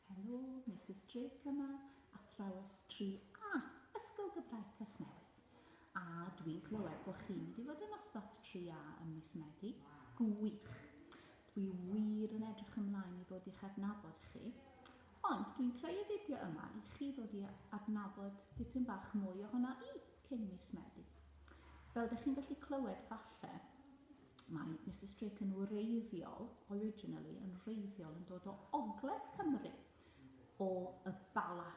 Helo, Misus Drake yma, athrawes 3A, Ysgol Gymraeg Casnewydd. A dwi'n clywed bod chi'n mynd i fod yn nosbarth 3A ym mis Medi? Gwych! Dwi wir yn edrych ymlaen i ddod i'ch adnabod chi. Ond dwi'n creu y fideo yma i chi ddod i adnabod dipyn bach mwy ohono i cyn mis Medi. Fel dych chi'n gallu clywed falle, Mae Mister Strick yn wreiddiol, originally, yn wreiddiol yn dod o ogledd Cymru, o y Bala,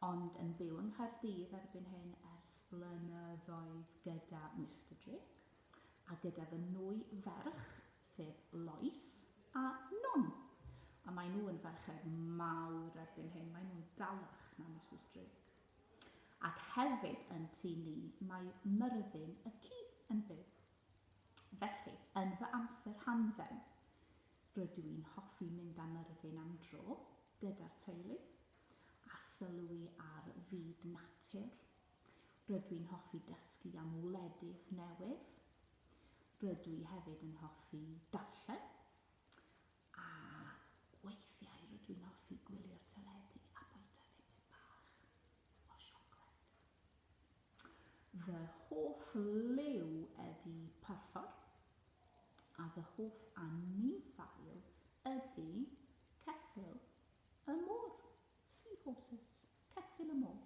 ond yn byw yng Nghaerdydd erbyn hyn ers blynyddoedd gyda Mister Strick, a gyda fy nwy ferch, sef Lois a Non. A maen nhw yn ferched mawr erbyn hyn, maen nhw'n dalach na Mister Strick. Ac hefyd yn tu ni mae Myrddin y ci yn byw. Felly, yn fy amser hamdden, rydw i'n hoffi mynd â Myrddin am dro gyda'r teulu, a sylwi ar fyd natur. Rydw i'n hoffi dysgu am wledydd newydd. Rydw i hefyd yn hoffi darllen. A weithiau rydw i'n hoffi gwylio'r teledu a bwyta dipyn bach o siocled. Fy hoff liw ydi porffor, a fy hoff anifail ydi ceffyl y môr, sea horses, ceffyl y môr.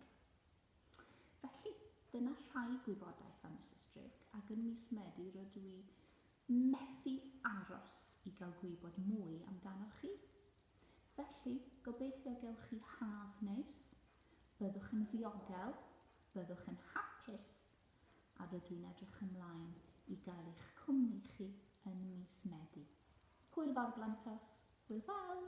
Felly, dyna rhai gwybodaeth am Misus Drake, ac yn mis Medi rydw i methu aros i gael gwybod mwy amdanoch chi. Felly, gobeithio gewch chi haf neis, byddwch yn ddiogel, byddwch yn hapus, a rydw i'n edrych ymlaen i gael eich cwmni chi yn mis Medi. Hwyl fawr Blantos! Hwyl fawr!